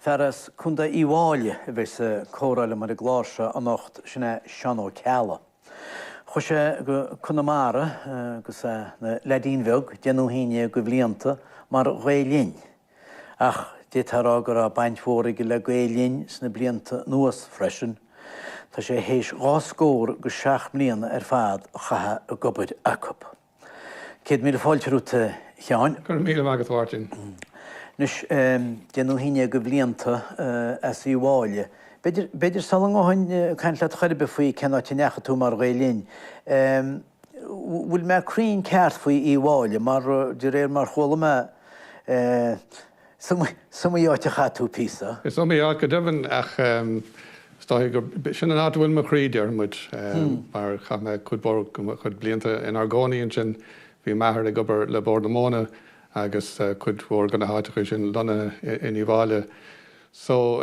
Fear as Contae Uíbh Fhailí a bheas ag comhrá liom ar an gclár seo anocht, sin é Seán Ó Ceallaigh. Chuaigh sé go Conamara agus é ina leaidín bheag, deich nó haon déag de bhlianta mar Ghael Linn. Ach d'fhéadfá a rá go raibh baint mhór aige le Gael Linn sna blianta anuas freisin. Tá sé théis dhá scór agus seacht mbliana ar fad a chaitheamh ag obair acu. Céad míle fáilte romhat, a Sheáin. Go raibh míle maith agat, a Mháirtín. Anois, deich nó haon déag de bhlianta as Uíbh Fhailí. B'fhéidir sula ngabhfainn ag caint leat chor ar bith faoi cén áit a ndeachaigh tú mar Ghael Linn, an bhfuil mé cruinn ceart faoi Uíbh Fhailí mar de réir mar chuala mé, Is iomaí áit a chaith tú píosa. Is iomaí áit go deimhin ach is dóiche gur sin an áit a bhfuil mo chroí, deir muid, mar chaith mé cuid mhór mo chuid blianta inár gcónaí ansin. Bhí m'athair ag obair le Bord na Móna agus cuid mhór de na háiteacha sin lonnaithe in Uíbh Fhailí. So,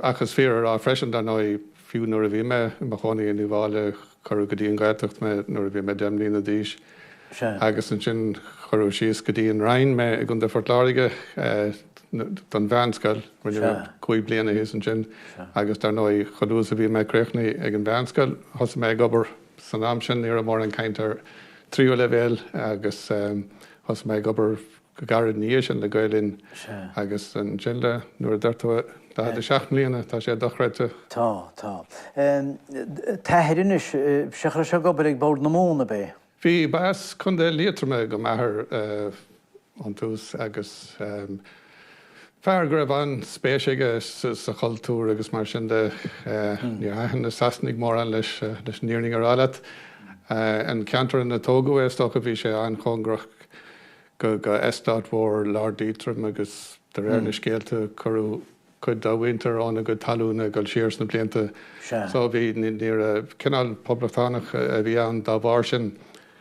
ach is fíor a rá freisin, dar ndóigh, fiú nuair a bhí mé i mo chónaí in Uíbh Fhailí, Cuireadh go dtí an Ghaeltacht mé nuair a bhí mé deich mbliana d'aois agus ansin cuireadh síos go dtí an Rinn mé i gContae Phort Láirge don mheánscoil. Rinne mé cúig bliana thíos ansin agus dar ndóigh chomh luath is a bhí mé críochnaithe ag an mheánscoil thosaigh mé ag obair. San am sin ní raibh mórán caint ar tríú leibhéal agus thosaigh mé ag obair. go gairid ina dhiaidh sin le Gael Linn agus ansin le Nuair a deir tú 47 mbliana, tá sé dochreidte. Tá, tá. T'athair anois, b'sheo, chuaigh sé ag obair ag Bord na Móna, ab é? Bhí, ba as Contae Liatroma do m'athair ón tús agus fear go raibh an-spéis aige sa chultúr agus mar sin de. Níor thaitin na Sasanaigh mórán leis, leis an fhírinne a rá leat. An ceantar ina tógadh é, is dócha, bhí sé an-chóngarach, do eastát mhór Lord Leitrim agus de réir na scéalta cuireadh cuid dá mhuintir óna gcuid talún ag dul siar sna blianta so bhí ní raibh, cineál poblachtánach a bhí ann dá bharr sin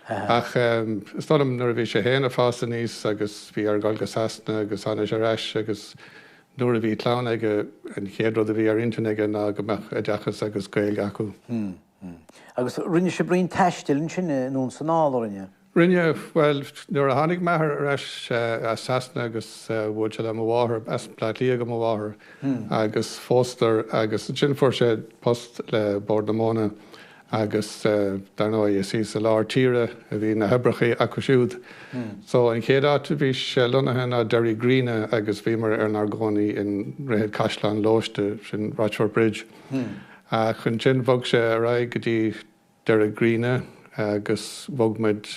ach is dóigh liom nuair a bhí sé féin ag fás aníos agus bhí air dhul go Sasana agus tháinig sé ar ais agus nuair a bhí clann aige an chéad rud a bhí ar intinn aige ná go mbeadh oideachas agus Gaeilge acu. Hm, hm. Agus rinne sibh roinnt taistil ansin anonn is anall, an rinne? Rinne, bhuel, nuair a tháinig m'athair ar ais as Sasana agus bhuail sé le mo mháthair, as Baile Átha Cliath do mo mháthair agus phósadar agus ansin fuair sé post le Bord na Móna agus dar ndóigh is í sa lár tíre a bhí na hoibreacha acu siúd so an chéad áit a bhí sé lonnaithe ná Derrygreenagh agus bhíomar inár gcónaí i nDroichead Chaisleán Loiste, sin Rochfortbridge ach ansin bhog sé ar aghaidh go dtí Derrygreenagh agus bhog muid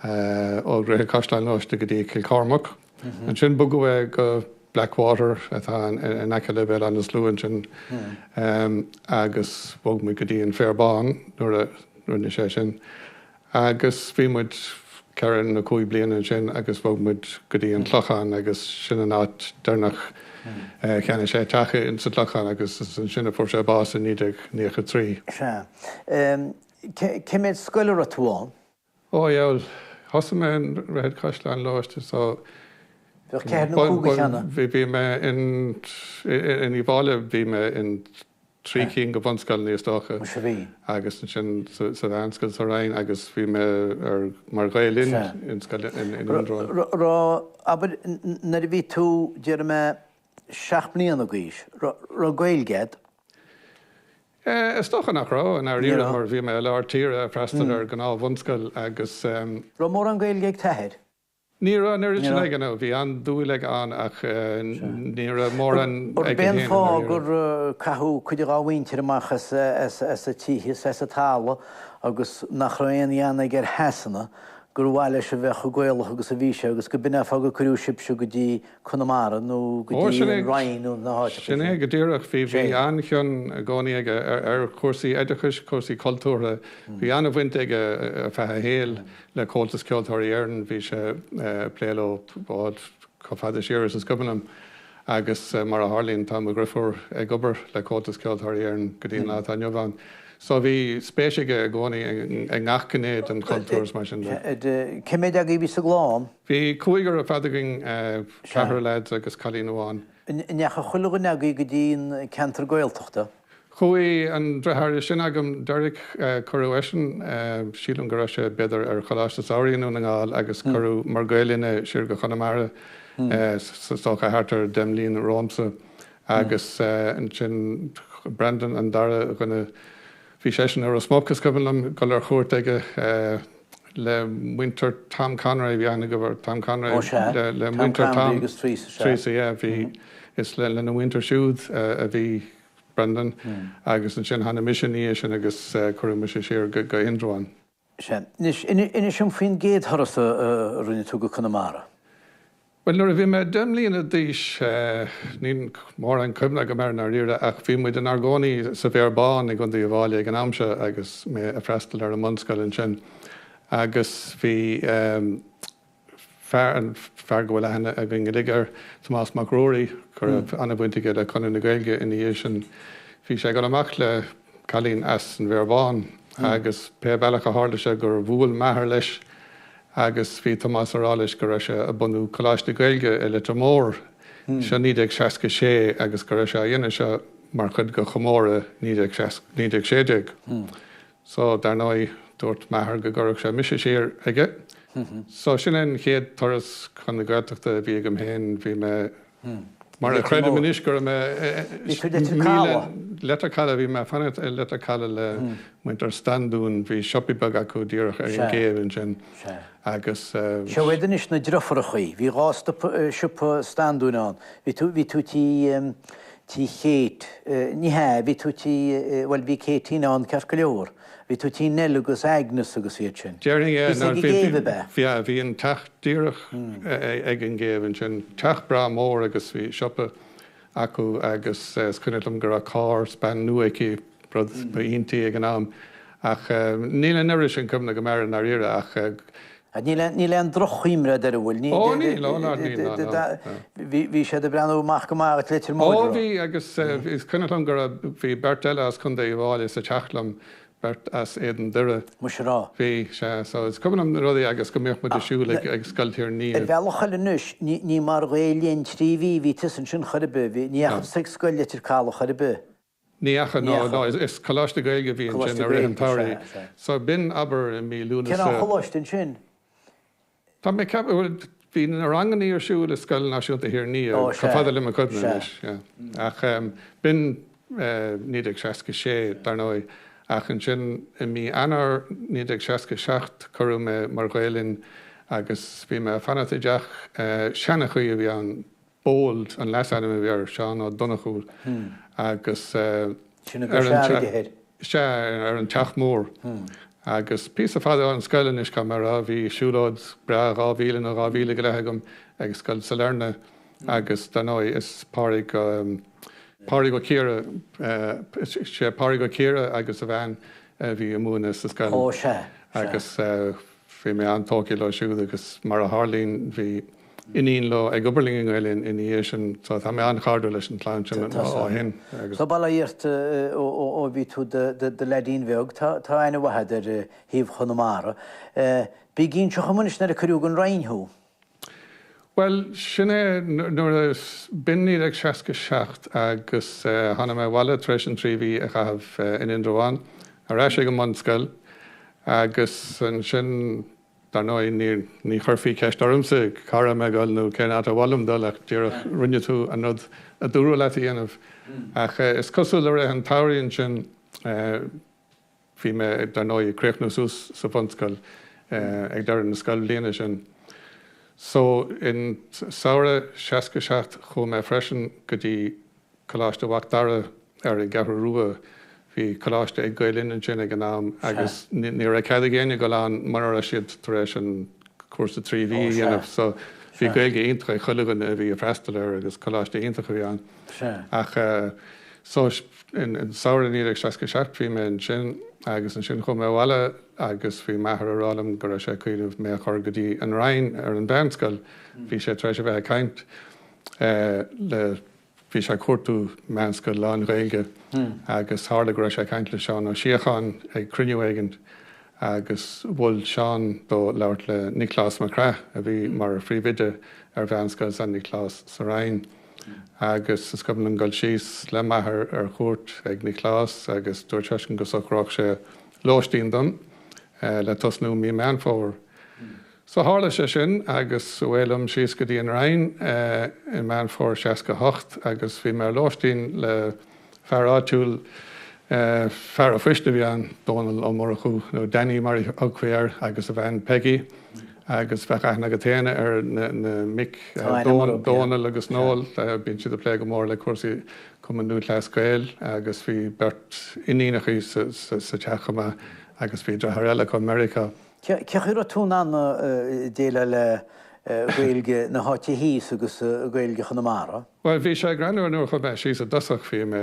ó Dhroichead Chaisleáin Loiste go dtí Cill Chormaic. Ansin bogadh é go Blackwater atá in aice le Béal Átha na Sluaighe ansin agus bhog muid go dtí an Féar Bán nuair a rinne sé sin agus bhí muid ceithre nó cúig bliana ansin agus bhog muid go dtí an Clochán agus sin an áit deireanach a cheannaigh sé teach insa Clochán agus is ansin a fuair sé bás i 1993. Sea. Cé méid scoil a raibh tú ann? Ó, bheul, thosaigh mé in Droichead Chaisleáin Loiste so Bheadh ceithre nó cúig de cheanna. bhí mé in Uíbh Fhailí bhí mé in. trí cinn de bhunscoileanna is dócha agus ansin sa mheánscoil sa Rinn agus bhí mé ar mar Ghael Linn in scoil in Indreabhán. Raibh, abair, nuair a bhí tú, déarfaidh mé, seacht mbliana d'aois, raibh Gaeilge agat? Eh, is dócha nach raibh i ndáiríre mar bhí mé i lár tíre ag freastal ar gnáthbhunscoil agus. Raibh mórán Gaeilge ag t'athair? Ní raibh an oiread sin aige, no. Bhí an-dúil aige ann ach ní raibh mórán aige i ndáiríre. An fáth gur caitheadh cuid dhá mhuintir amach as a tithe is as a talamh agus nach raibh aon ghean aige ar Shasana gur mhaith leis a bheith chomh Gaelach agus a bhí sé agus gurb in é an fáth gur cuireadh sibhse go dtí Conamara nó go dtí an Rinn nó na háiteacha sin. Sin é go díreach. Bhí an-chion i gcónaí aige ar chúrsaí oideachais, cúrsaí cultúrtha. Bhí an-bhaint aige ar feadh a shaoil le Comhaltas Ceoltóirí Éireann, bhí sé ag plé leo chomh fada siar is is cuimhin liom agus mar a tharlaíonn tá mo dhriofúr ag obair le Comhaltas Ceoltóirí Éireann go dtí an lá atá inniu ann. So bhí spéis aige i gcónaí i ngach gné den chultúr is mar sin de. Cé méid agaibh a bhí sa gclann? Bhí cúigear ar fad againn, ceathrar leaid agus cailín amháin. An ndeachaigh chuile dhuine agaibh go dtí an ceantar Gaeltachta? Chuaigh an driotháir is sine agam, Derek, cuireadh eisean, sílim go raibh sé b'fhéidir ar choláiste samhraidh i nDún na nGall agus cuireadh mar Gael Linn é siar go Conamara, is dócha thart ar deich mbliana romhamsa. Agus ansin Brendan an dara dhuine, bhí seisean i Ros Muc is cuimhin liom dul ar chuairt aige, le muintir Tom Conroy a bhí aithne agaibh ar Tom Conroy Ó sea, le Tom muintir Conroy Tom agus Theresa, sea. Theresa yeah bhí is le lena mhuintir siúd a bhí Brendan agus ansin tháinig mise ina dhiaidh sin agus cuireadh mise siar go go Indreabhán. Sea. Anois, inis dom faoin gcéad thuras a rinne tú go Conamara. Bhuel, nuair a bhí mé deich mbliana d'aois, níl mórán cuimhne agam air i ndáiríre, ach bhí muid inár gcónaí sa bhFéar Bán i gContae Uíbh Fhailí ag an am seo agus mé ag freastal ar an mbunscoil ansin. Agus bhí fear, an fear go bhfuil aithne againn uilig air, Tomás Mac Ruairí, go raibh an-bhaint aige le Conradh na Gaeilge ina dhiaidh sin, bhí sé ag dul amach le, cailín as an bhFéar Bán agus pé bealach a tharla sé gur bhuail m'athair leis agus bhí Tomás a rá leis go raibh sé a bunú Coláiste Gaeilge i Leitir Móir, seo 1966 agus go raibh sé á dhéanamh seo mar chuid de chomóradh 1916. So dar ndóigh dúirt m'athair go gcuirfeadh sé mise siar aige. So sin é an chéad turas chun na Gaeltachta a bhí agam féin, bhí mé. Mar a chreidim anois go raibh mé i Leitir Calaidh, bhí mé ag fanacht i Leitir Calaidh le muintir Standún, bhí siopaí beaga acu díreach ar an gcéibh ansin agus. Seo iad anois na driofúrachaí, bhí dhá siopa Standúin ann, bhí tú, bhí tú tigh, tigh Kate, ní hea, bhí tú tigh, bhuel bhí Katie ann ceart go leor. Bhí tú tigh Nell agus Agnes agus iad sin. Déarfainn é. Bhí tú ag an gcéibh ab ea? Yeah, bhí an teach díreach ag an gcéibh ansin. Teach breá mór agus bhí siopa acu agus is cuimhneach liom go raibh carr span nua aici, rud ba iontaí ag an am. Ach níl an oiread sin cuimhne agam air i ndáiríre ach Ach níl aon, níl aon drochchuimhne agat air an bhfuil? Ní, Ó níl, níl, ó ná níl, ná, ná, ná. Bhí, bhí siad ag breathnú amach go maith as Leitir Móir Ó bhí agus eh, is cuimhneach liom go raibh, bhí beirt eile as Contae Uíbh Fhailí sa teach liom, beirt as Éadan Doire. Muise rá. Bhí, sea, so is cuimhin liom na rudaí agus go mbíodh muid ag siúl ag, ag Scoil Thír an Fhia. bhealach eile anois, ní, ní mar Ghael Linn trí mhí a bhí tusa ansin chor ar bith, bhí, ní dheachaigh tusa ag Scoil Leitir Calaidh chor ar bith. Ní dheachaigh, Ní dheachaigh. no is coláiste Gaeilge a bhí ansin Coláiste i rith an Gaeilge is ea, tsamhraidh. is ea. So b'in, abair, i mí Cén Lúnasa. choláiste ansin? Tá mé ag ceapadh, bhuel, bhí na rangannaí ar siúl i Scoil Náisiúnta Thír an Fhia, Ó, is chomh ea, fada le mo chuimhne is ea. anois, yeah. Ach b'in 1966, dar ndóigh. Ach ansin i mí Eanáir 1967 cuireadh mé mar Ghael Linn agus bhí mé ag fanacht i dteach seanchaí a bhí ann, Bold an leasainm a bhí air, Seán Ó Donnchú agus Sin a bhí ar an fearr aige thoir. sea, ar an Teach Mór. Agus píosa fada ón scoil anois chomh maith a raibh, bhí siúlóid breá dhá mhíle nó dhá mhíle go leith agam ag Scoil Sailearna agus dar ndóigh is Pádraig, Pádraig Ó Ciardha, sea, Pádraig Ó Ciardha agus a bhean a bhí a' múineadh sa scoil. Ó sea, sea. Agus. Bhí mé an-tógtha leo siúd agus mar a tharlaíonn bhí iníon leo ag obair linn i nGael-Linn ina dhiaidh sin so tá mé an-chairdiúil leis an chlann sin ó shin agus. Tá bail ó Dhia ort ó bhí tú i do leaidín bheag, tá aithne mhaith agat ar thaobh Chonamara. Bí ag inseacht dhom anois nuair a cuireadh don Rinn thú. Bhuel, sin é, nuair a b'in 1967 agus tháinig mé abhaile tar éis an trí mhí a chaitheamh in Indreabhán, ar ais ag an mbunscoil agus ansin, dar ndóigh, ní chuirfí ceist ormsa cá raibh mé ag dul nó cén áit ar mhaith liom dul ach díreach rinne tú an rud a dúradh leat a dhéanamh. Ach is cosúil le rith an tsamhraidh ansin, Bhí mé, dar ndóigh, ag críochnú suas sa bhunscoil ag deireadh na scoilbhliana sin. So, in samhradh seasca seacht chuaigh mé freisin go dtí Coláiste Mhac Dara ar an gCeathrú Rua. Bhí coláiste ag Gael Linn ansin ag an am agus ní raibh cead ag éinne dul ann mura raibh siad tar éis an cúrsa trí mhí a dhéanamh. So, bhí Gaeilge iontach ag chuile dhuine a bhí a' freastal air agus coláiste iontach a bhí ann. Ach so, an samhradh 1967 bhí mé ansin agus ansin chuaigh mé abhaile agus bhí m'athair a' rá liom go raibh sé ag cuimhneamh mé a chur go dtí an Rinn ar an mheánscoil. Bhí sé tar éis a bheith ag caint le, bhí sé ag cuartú meánscoil lán-Ghaeilge agus tharla go raibh sé ag caint le Seán Ó Síocháin ag cruinniú éigint agus mhol Seán dó labhairt le Nioclás Mac Craith a bhí mar phríomhoide ar mheánscoil San Nioclás sa Rinn. agus is cuimhin liom dul síos le m'athair ar chuairt ag Nioclás agus dúirt seisean go socródh sé lóistín dom le tosnú mí Meán Fómhair. So tharla sé sin agus away liom síos go dtí an Rinn i Meán Fómhair 68 agus bhí mé ar lóistín le Fear áitiúil, fear an phoist a bhí ann, Dónall Ó Murchú, nó Danny mar a thugfaí air, agus a bhean Peggy agus bheadh aithne agat féin ar na mic, Dónall agus Noel, bíonn siad ag plé go mór le cúrsaí Chumann Lúthchleas Gael agus bhí beirt iníonachaí sa teach chomh maith agus bhí dreatháir eile acu i Meiriceá. Cé acu a raibh tú in ann déileáil le Gaeilge na háite thíos agus Gaeilge Chonamara? Bhuel, bhí sé greannmhar nuair a chuaigh mé síos i dtosach, bhí mé,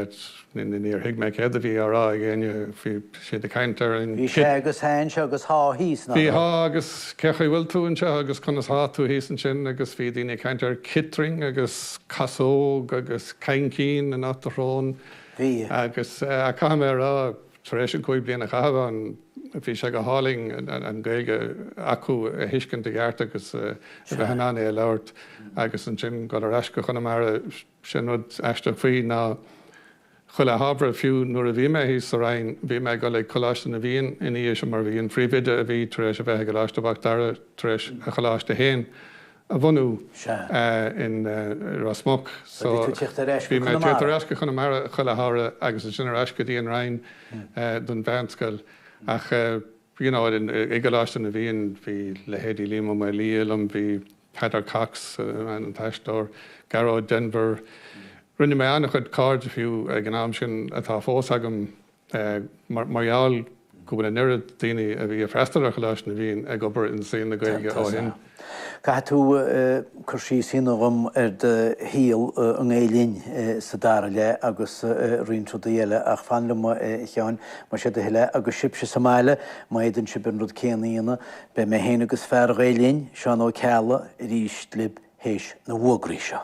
níor thuig mé céard a bhí á rá ag éinne, bhí siad ag caint ar an. Bhí sé agus thá anseo agus thá thíos, nach raibh? Bhí thá agus cé acu a bhfuil tú anseo agus conas thá tú thíos ansin agus bhí daoine ag caint ar citeal agus casóg agus caincín in áit do shrón Bhí. agus eh, caithfidh mé a rá, Tar éis an cúig bliana a chaitheamh ann bhí sé go hálainn an Ghaeilge acu a thuiscint i gceart agus a bheith in ann é a labhairt agus ansin dul ar ais go Conamara. Sin rud aisteach faoi ná chuile shamhradh, fiú nuair a bhí mé thíos sa Rinn, bhí mé ag dul ag Coláiste na bhFiann ina dhiaidh sin mar bhí an príomhoide a bhí tar éis a bheith i gColáiste Mhac Dara tar éis a choláiste féin a bhunú Sea. in Ros Muc. So, bhí tú ag teacht ar ais go Conamara? Bhí mé ag teacht ar ais go Conamara chuile shamhradh agus ansin ar ais go dtí an Rinn don mheánscoil. Ach, you know, i gColáiste na bhFiann bhí leithéidí Liam Ó Maolaodha liom, bhí Peadar Cox, an t-aisteoir, Gearóid Denvir. Rinne mé an-chuid cairde fiú ag an am sin atá fós agam. Mar gheall go bhfuil an oiread daoine a bhí ag freastal ar Choláiste na bhFiann ag obair i saol na Gaeilge ó shin. Caithfidh tú cur síos a dhéanamh dhom ar do shaol i nGael Linn sa dara leath agus roinnt rudaí eile ach fan liom, a Sheáin, más é do thoil é. Agus sibhse sa mbaile, má fhéadann sibh an rud céanna a dhéanamh, beidh mé féin agus fear Ghael Linn, Seán Ó Ceallaigh, arís libh théis na bhfógraí seo.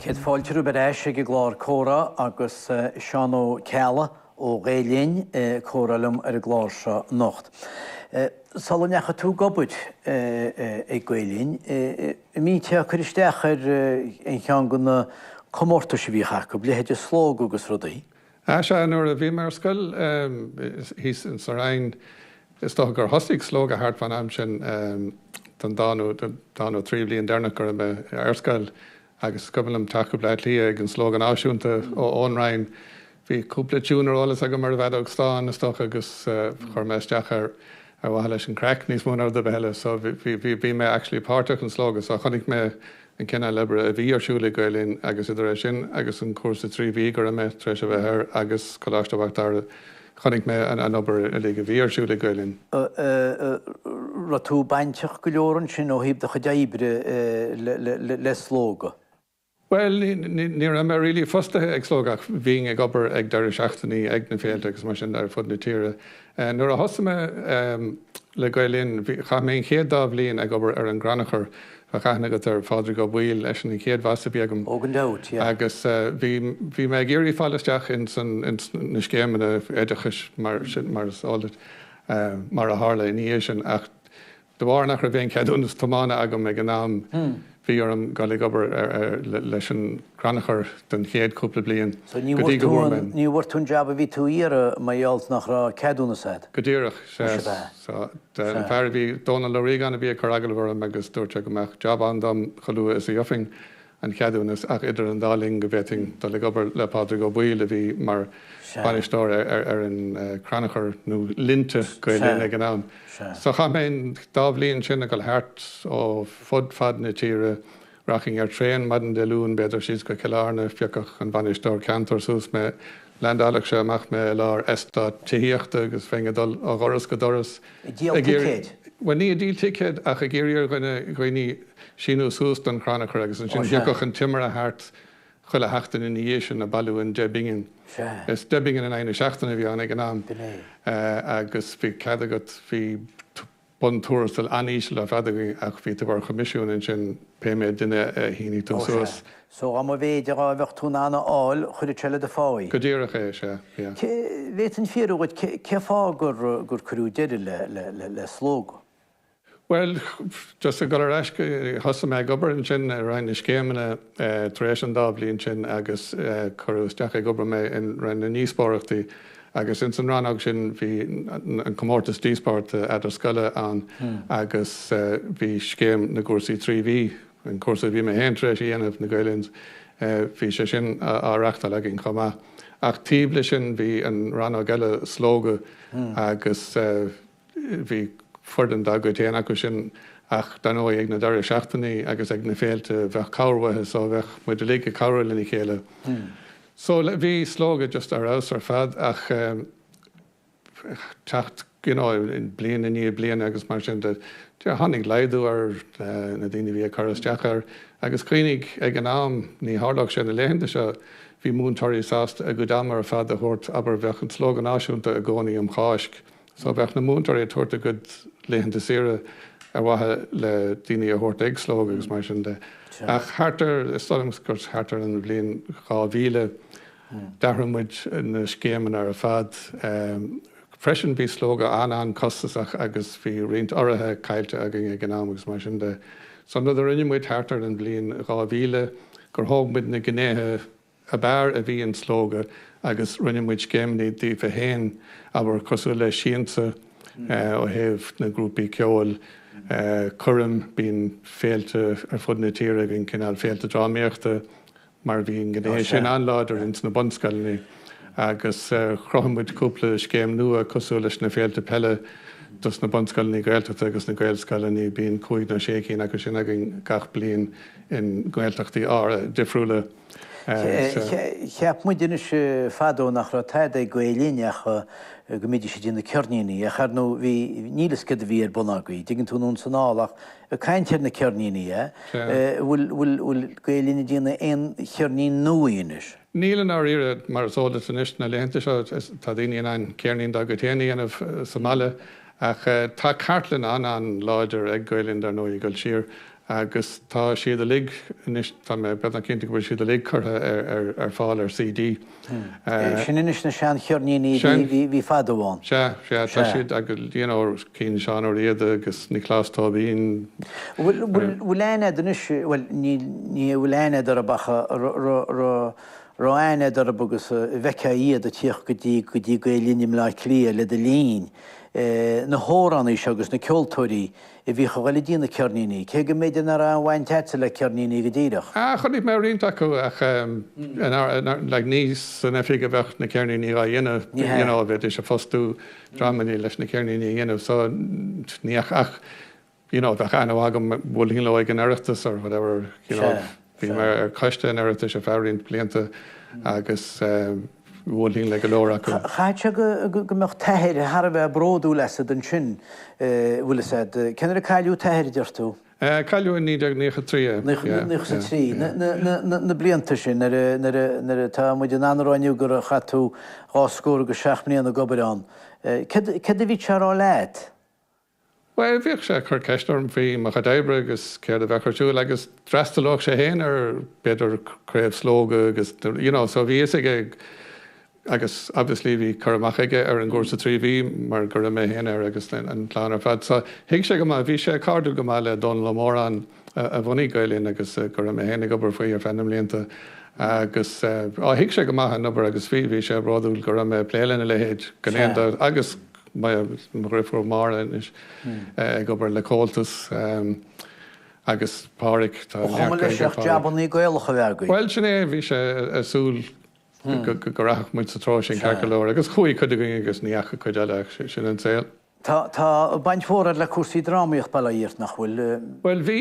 Céad fáilte romhaibh ar ais ag an gclár Comhrá agus Seán Ó Ceallaigh ó Ghael Linn ag comhrá liom ar an gclár seo anocht. Sula ndeachaigh tú ag obair ag Gael Linn, An mbíteá ag cur isteach ar aon cheann de na comórtais a bhíodh acu, leithéide Slógadh agus rudaí. Ah sea, nuair a bhí mé ar scoil, thíos sa Rinn, is dócha gur thosaigh Slógadh thart fán am sin, don dá nó trí bhliain deireanach go raibh mé ar scoil agus is cuimhin liom teacht go Bleá Cliath ag an Slógadh Náisiúnta ón Rinn. Bhí cúpla tiún ar eolas agam ar an bhfeadóg stáin, is dócha, agus chuir mé isteach air. Ar mhaithe leis an craic, níos mó ná rud ar bith eile, so bhí, bhí, bhí mé actually páirteach in Slógadh so chonaic mé an cineál oibre a bhí ar siúl ag Gael Linn agus idir é sin agus an cúrsa trí mhí go raibh mé tar éis a bheith air agus Coláiste Mhic Dara chonaic mé an, an obair uilig a bhí ar siúl ag Gael Linn. An raibh tú bainteach go leor ansin ó thaobh do chuid oibre le, le, le, le Slógadh? Bhuel, ní raibh mé really fostaithe ag Slógadh, bhínn ag obair ag deireadh seachtainí ag na féilte agus mar sin ar fud na tíre. Nuair a thosaigh mé le Gael Linn, chaith mé an chéad dhá bhliain ag obair ar an gcrannchur, bheadh aithne agat ar Phádraig Ó Baoill, eisean an chéad bhas a bhí agam. Oh gan dabht, yeah. Agus bhí mé ag iarraidh fáil isteach ins na scéimeanna oideachais mar sin, mar is eol duit, mar a tharla ina dhiaidh sin ach De bharr nach raibh aon cheadúnas tiomána agam ag an am bhí orm dul ag obair leis an gcrannchur don chéad chúpla bliain go dtí go bhfuair mé. Ní bhfuair tú an jab a bhí tú a iarraidh mar gheall nach raibh ceadúnas agat? Go díreach. Sea. An fear a bhí, Dónal Ó Riagáin, a bhí ag cur agallaimh orm agus dúirt sé go mbeadh jab ann dom chomh luath is a thiocfainn. an cheadúnas ach idir an dá linn go bhféadfainn dul ag obair le Pádraig Ó Baoill a bhí mar bhainisteoir ar an Crannchur nó Linnte Gael Linn ag an am. So chaith mé an dá bhliain sin ag dul thart ar fud fad na tíre, rachainn ar traein maidin Dé Luain b'fhéidir síos go Cill Airne, phiocfadh an bainisteoir ceantair suas mé, leaindeálfadh sé amach mé i lár eastát tithíochta agus bheinn ag dul ó dhoras go doras, Ag díol ticéid? Bhuel, ní ag díol ticéid ach ag iarraidh ar dhuine, dhaoine síniú suas don chrannchur agus ansin thiocfadh an timire thart chuile sheachtain ina dhiaidh sin ag bailiú an deich bpingin. Is deich bpingin in aghaidh na seachtaine a bhí ann ag an am agus bhí cead agat, bhí buntuarastal an-íseal ar fad againn ach bhí tú ar choimisiún ansin pé méid duine a shínigh tú suas. So dá mhéid a bheadh tú in ann a fháil, chuirfeadh sé le do phá í? Go díreach é, sea, yeah. Cé, bhféadfainn fiafraí dhíot, cén fáth gur, gur cuireadh deireadh le, le, le, le Slógadh? Bhuel, just ag dul ar ais, thosaigh mé ag obair ansin i Roinn na Scéimeanna tar éis an dá bhliain sin agus cuireadh isteach ag obair mé in Roinn na nDíospóireachtaí agus ins an rannóg sin bhí an comórtas díospóireachta idirscoile ann agus bhí scéim na gcúrsaí trí mhí An cúrsa a bhí mé féin tar éis a dhéanamh, le Gael Linn, bhí sé sin á reachtáil againn chomh maith. Ach taobh leis sin bhí an rannóg eile, Slógadh, agus bhí foireann dá gcuid féin acu sin ach dar ndóigh ag na deireadh seachtainí agus ag na féilte bheadh cabhair uathu so bheadh muid uilig ag cabhrú lena chéile. So bhí Slógadh just ar fheabhas ar fad ach teacht bliain i ndiaidh bliana agus mar sin de. Tháinig laghdú ar na daoine a bhí ag cur isteach air agus cuimhnigh ag an am ní tharlódh sé na laethanta seo, bhí múinteoirí sásta a gcuid ama ar fad a thabhairt, abair, bheadh an Slógadh Náisiúnta i gcónaí um Cháisc so bheadh na múinteoirí ag tabhairt a gcuid laethanta saoire ar mhaithe le daoine a thabhairt ag Slógadh agus mar sin de. Ach thart ar, is dóigh liom gur thart ar an bhliain 2000, D'athraigh muid na scéimeanna ar fad. Freisin bhí Slógadh an-an-chostasach agus bhí roinnt urraithe caillte againn ag an am agus mar sin de. So an rud a rinne muid thart ar an bhliain 2000 gur thóg muid na gnéithe ab fhearr a bhí in Slógadh agus rinne muid scéimeanna díofa féin abair cosúil le Siansa ó thaobh na grúpaí ceoil, Coirm, bíonn féilte ar fud na tíre againn, cineál féilte drámaíochta. mar bhí an gné sin an-láidir ins na bunscoileanna agus chruthaigh muid cúpla scéim nua cosúil leis na féilte peile dos na bunscoileanna Gaeltachta agus na Gaelscoileanna, bíonn cúig nó sé cinn acu sin againn gach bliain i nGaeltachtaí difriúla. Cheap muide fadó nach raibh tada ag Gael Linn ach go mbídís ag déanamh ceirníní ach ar ndóigh bhí, níl a fhios céard a bhí ar bun agaibh, a dtuigeann tú, nó an cineál, ach Ag caint ar na ceirníní, an bhfuil Gael-Linn ag déanamh aon cheirnín nuaí anois? Níl i ndáiríre, mar is eol duit anois, na laethanta seo tá daoine in ann ceirnín dá gcuid féin a dhéanamh sa mbaile ach tá cartlann an-an-láidir ag Gael-Linn dar ndóigh ag dul siar agus tá siad uilig anois, tá mé beagnach cinnte go bhfuil siad uilig curtha ar fáil ar CD. Sin anois na seancheirníní a bhí fadó ann. Sea, sea, tá siad agus you know cinn Seán Ó Riada agus Nioclás Tóibín. Bhfuil aithne a'd anois, bhuel ní an bhfuil aithne a'd orthu ach raibh aithne a'd orthu agus bhfeictheá iad ag tíocht go dtí go dtí Gael Linn i mBleá Cliath le do linn, na hamhránaithe seo agus na ceoltóirí, A bhíodh ag cur díobh na ceirníní, cé go mb'fhéidir nach raibh aon bhaint a'dsa le ceirníní go díreach. Ah, chonaic mé roinnt acu ach like ní san oifig a bheadh na ceirníní á dhéanamh, you know, a bheidís ag fostú dreamannaí leis na ceirníní a dhéanamh so ní ach, you know, bheadh aithne agam, bhuailfinn leo ag an Oireachtas or whatever, you know. Bhí mé ar choiste an Oireachtais ar feadh roinnt blianta agus bhuailfinn le go leor acu. Chaithfeadh sé go mbeadh t-athair thar a bheith bródúil asad ansin, bhfuil 'fhios a'd. Cén uair a cailleadh t-athair, deir tú? Cailleadh i naoi déag nócha trí é. Nócha trí. Na blianta sin nuair a, tá muid in ann a rá inniu gur chaith tú dhá scór agus seacht mbliana ag obair ann. Céard a bhíodh sé a' rá leat? Bhuel, bhíodh sé ag cur ceist orm faoi mo chuid oibre agus céard a bheadh ar siúl agus d'fhreastalódh sé féin ar, b'fhéidir, craobh Slógadh agus, you know, so bhí fhios aige agus obviously bhí cur amach aige ar an gcúrsa trí mhí mar go raibh mé féin air agus an chlann ar fad so thuig sé go maith, bhí sé cairdiúil go maith le Dónall Ó Móráin a bhunaigh Gael Linn agus go raibh mé féin ag obair faoi ar feadh na mblianta agus, á, thuig sé go maith an obair agus bhí, bhí sé bródúil go raibh mé ag plé lena leithéid, gan aon dabht, agus. Mo dhriofúr Máire anois ag obair le Comhaltas agus Páraic, tá neart Gaeilge ag Páraic. Ba chuma leis ach jabannaí Gaelacha a bheith againn. Bhuel, sin é, bhí sé ag súil go rachadh muid sa treo sin ceart go leor agus chuaigh cuid againn agus ní dheachaigh cuid eile, sin an saol. Tá baint mhór agat le cúrsaí drámaíochta i mBleá Cliath, nach bhfuil? Bhuel, bhí,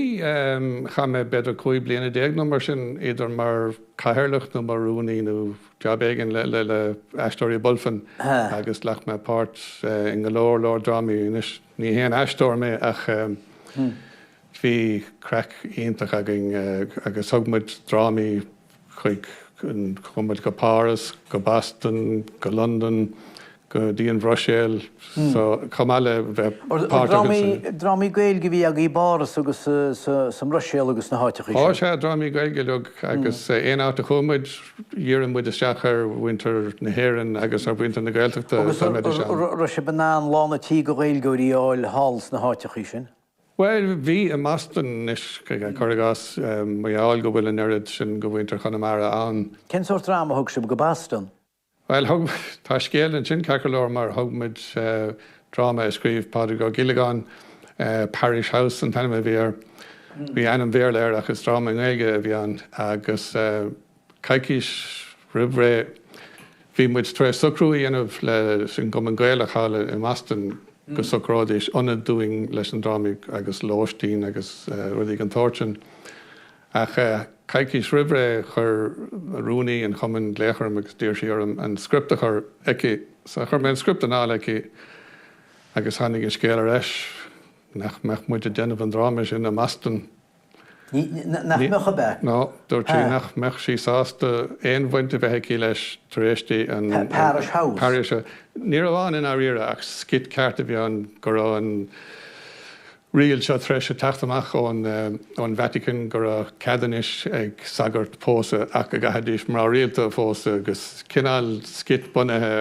chaith mé b'fhéidir cúig bliana déag nó mar sin, idir mar cathaoirleach nó mar rúnaí nó. Jab éigin le, le Aisteoirí Bulfin agus ghlac mé páirt i ngo leor leor drámaí. Ní haon aisteoir mé ach bhí craic iontach againn agus thug muid drámaí chuig, chuaigh muid go Páras, go Boston, go Londain, go dtí an Bhruiséil so chomh maith le bheith páirteach sa. Drámaí Gaeilge a bhí agaí i bPáras agus sa mBruiséil agus sna háiteachaí sin. Á sea, drámaí Gaeilge uiliug agus aon áit a chuaigh muid dhírigh muid isteach ar mhuintir na hÉireann agus ar mhuintir na Gaeltachta dá mbeidís ann. Agus raibh sibh in ann lán a' tí go Ghaeilgeoirí a fháil thall sna háiteachaí sin? Bhuel, bhí i mBoston anois, cuir i gcás, mar gheall go bhfuil an oiread sin go mhuintir Chonamara ann. Cén sórt dráma a thug sibh go Boston? Bhuel, thug, tá scéal ansin ceart go leor mar thug muid dráma a scríobh Pádraig Ó Giollagáin, Parish House an t-ainm a bhí air. Bhí ainm Bhéarla air ach is dráma i nGaeilge a bhí ann agus coicís roimh ré bhí muid tar éis socrú a dhéanamh leis an gCumann Gaelach thall i mBoston go socróidís ionad dúinn leis an dráma agus lóistín agus rudaí den tsórt sin. Ach coicís roimhré chuir rúnaí an chumainn glaoch orm agus d'iarr sí orm an script a chur aici. So chuir mé an script anall aici agus tháinig an scéal ar ais nach mbeadh muid ag déanamh an dráma sin i mBoston. Nach mbeadh ab ea? No, dúirt sí nach mbeadh sí sásta aon bhaint a bheith aici leis tar éis di an Parish House. Ní raibh ann i ndáiríre ach skit ceart a bhí ann go raibh an Riail seo tar éis teacht amach ón Vatican go raibh cead anois ag sagairt pósadh ach go gcaithfidís mná rialta a phósadh agus cineál skit bunaithe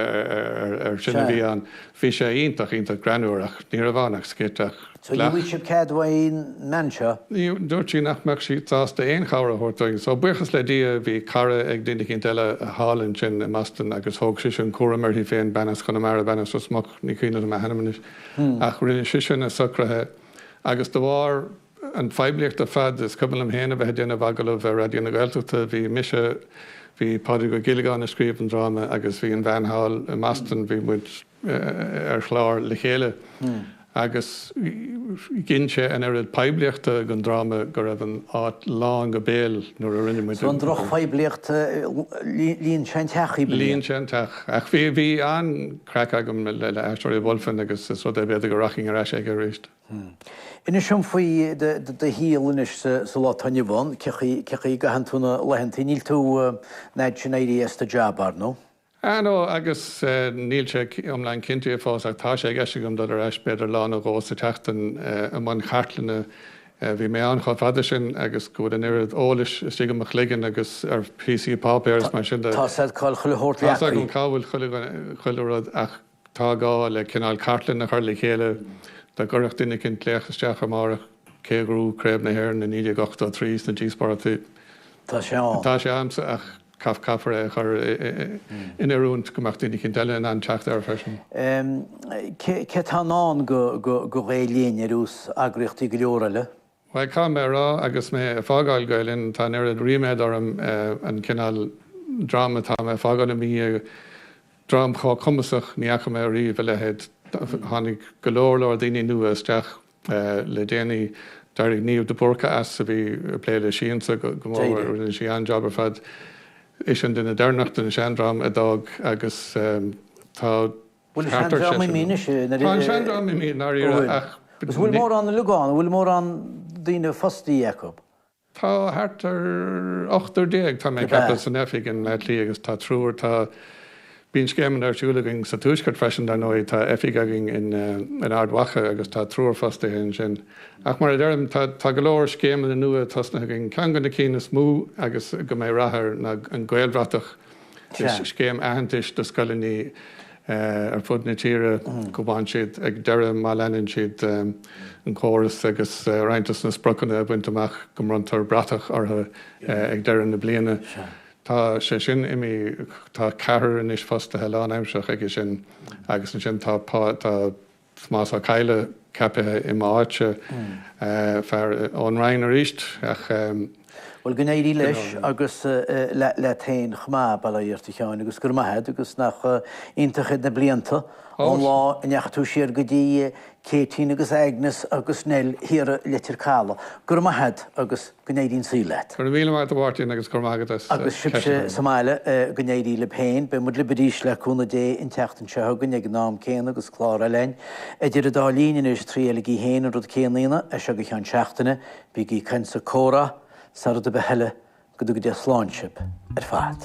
ar sin a bhí ann. Bhí sé iontach, iontach greannmhar ach ní raibh ann ach skit ach. So ní bhfuair sé cead ón mbean seo? Dúirt sí nach mbeadh sí sásta aon chabhair a thabhairt dúinn. So buíochas le Dia bhí cara ag duine eicínt eile thall ansin i mBoston agus thóg sise an cúram uirthi féin, bean as Chonamara, bean as Ros Muc, ní cuimhneach liom a hainm anois. ach rinne sise na socruithe agus de bharr an phoiblíocht ar fad, is cuimhin liom féin a bheith ag déanamh agallamh ar Raidió na Gaeltachta, bhí mise, bhí Pádraig Ó Giollagáin a scríobh an dráma agus bhí an bhean thall i mBoston, bhí muid ar chlár le chéile agus ghin sé an oiread poiblíochta don dráma go raibh an áit lán go béal nuair a rinne muid é. So an drochphoiblíocht, líon sé an teach dhaoibh. Líon sé an teach ach bhí an, craic agam le Aisteoirí Bulfin agus is rud é b'fhéidir go rachainn ar ais aige arís. Inis dom faoi do shaol anois sa lá atá inniu ann. Cén chaoi a gcaitheann tú na laethanta? Níl tú an fhad sin éirithe as do jab, ar ndóigh? No, agus níl sé iomlán cinnte fós ach tá sé i gceist agam dul ar ais b'fhéidir lá nó dhó sa tseachtain i mbun chartlainne Eh, bhí mé ann chomh fada sin agus go bhfuil an oiread eolais istigh i mo chloigeann agus ar phíosaí páipéir is mar sin de. Tá 's agat cá bhfuil chuile shórt leagtha. Tá 's agam cá bhfuil chuile dhuine, chuile rud ach tá gá le cineál cartlann a chur le chéile dá gcuirfeadh duine éicint glaoch isteach amárach cé a ghnóthaigh Craobh na hÉireann i 1983 sna díospóireachtaí. Tá sé ann. Tá sé agamsa ach. Caithfear é a chur in oiriúint go mbeadh daoine eicínt eile in ann teacht air freisin. Céard atá i ndán do Gael Linn ar nós eagraíochtaí go leor eile? Bhuel, caithfidh mé a rá, agus mé ag fágáil Gael Linn, tá an oiread ríméad orm an cineál dream atá mé ag fágáil i mo dhiaidh, dream chomh cumasach ní fhaca mé ariamh a leithéid. Tháinig go leor leor daoine nua isteach. Le déanaí, d'éirigh Niamh de Búrca as, a bhí ag plé le Siansa go mór, rinne sí an-jab ar fad. Ise an duine deireanach den seandream a d'fhág agus tá thart ar seisear nua. Tá an seandream imithe i ndáiríre ach. Bhfuil mórán liogán, bhfuil mórán daoine fostaithe acu? Tá thart ar ochtar déag tá mé ag ceapadh san oifig i mBaile Átha Cliath agus tá triúr, tá, bíonn scéimeanna ar siúl againn sa tuaisceart freisin dar ndóigh, tá oifig againn in Ard Mhacha agus tá triúr fostaithe ansin. Ach mar a deirim, tá, tá go leor scéimeanna nua tosnaithe againn. Ceann de na cinn is mó agus go mbeidh rath air ná an Gaelbhratach. Is scéim aitheantais do scoileanna ar fud na tíre go bhfaigheann siad ag deireadh má leanann siad an córas agus roinnt dos na spriocanna a bhaint amach go mbronntar bratach orthu ag deireadh na bliana. Tá sé sin imithe, tá ceathrar anois fostaithe lánaimseartha aige sin agus ansin tá Tomás Ó Cadhla ceapaithe i m'áit. Fear ón Rinn arís ach. Bhuel go n-éirí leis agus leat féin chomh maith, bail ó Dhia ort, a Sheáin agus go raibh maith agat agus nach iontach iad na blianta ón lá a ndeachaigh tú siar go dtí Céitín agus Agnes agus Nell thiar i Leitir Caladh. Go raibh maith agat agus. Go n-éirí an saol leat. Go raibh míle maith agat a Mháirtín agus go raibh maith agat as ceist a chur orm. Agus sibhse sa mbaile, go n-éirí libh féin. Beidh muid libh arís le cúnamh Dé an tseachtain seo chugainn ag an am céanna agus clár eile againn. Idir an dá linn anois, triailigí féin an rud céanna a dhéanamh as seo go cheann seachtaine, bígí ag caint is ag comhrá sa rud ar bith eile. Go dtuga Dia slán sibh ar fad.